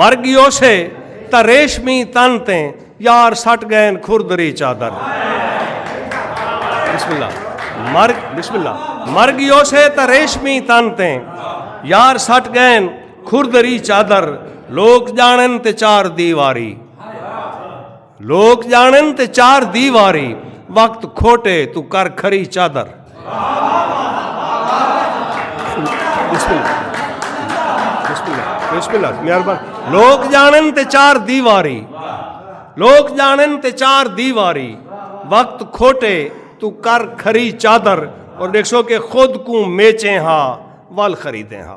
مر گیوسے تاں ریشمی تن تے یار سٹ گئن کھردری چادر بسم اللہ مر بسم اللہ مر گیوسے تاں ریشمی تن تے یار سٹ گئن کھردری چادر لوک جانن تے چار دیواری لوک جانن تے چار دی واری وقت کھوٹے تو کر کھری چادر لوک جانن تے چار دی واری لوک جانن تے چار دی واری وقت کھوٹے تو کر کھری چادر اور دیکھ سو کہ خود کو میچیں ہا وال خریدیں ہا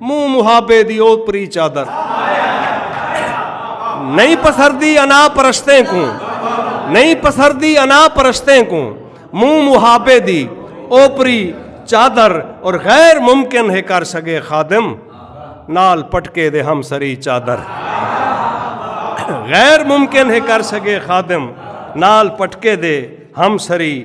منہ محابے دی اوپری چادر نہیں پسردی انا پرشتے کو نہیں پسردی انا پرشتے کو منہ محابے دی اوپری چادر اور غیر ممکن ہے کر سگے خادم نال پٹکے دے ہم سری چادر غیر ممکن ہے کر سگے خادم نال پٹکے دے ہم سری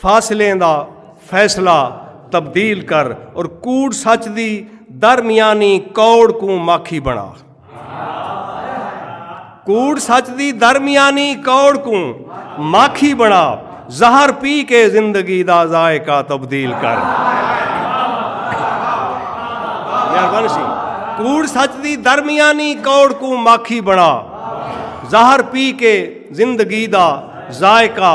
فاصلیں دا فیصلہ تبدیل کر اور کوڑ سچ دی درمیانی کوڑ کو ماکھی بنا کوڑ سچ دی درمیانی کوڑ کو ماکھی بنا زہر پی کے زندگی دا ذائقہ تبدیل کر کوڑ سچ دی درمیانی کوڑ کو ماکھی بنا زہر پی کے زندگی دا ذائقہ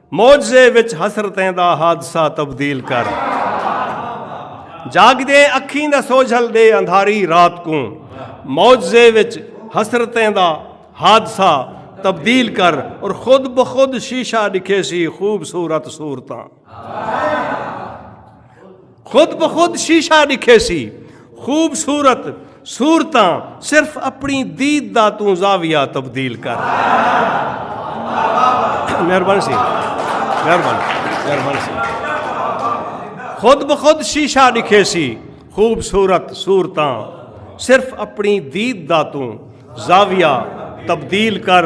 معجزے وچ حسرتیں دا حادثہ تبدیل کر جاگدیں اکھیں دا سوجھل دے اندھاری رات کوں معجزے وچ حسرتیں دا حادثہ تبدیل کر اور خود بخود شیشہ دکھے سی خوبصورت صورتاں خود بخود شیشہ ڈکھے سی خوبصورت صورتاں صرف اپنی دید دا توں زاویہ تبدیل کر مہربانی سی مہربانی مہربانی سی خود بخود شیشہ ڈکھے سی خوبصورت صورتاں صرف اپنی دید دا توں زاویہ تبدیل کر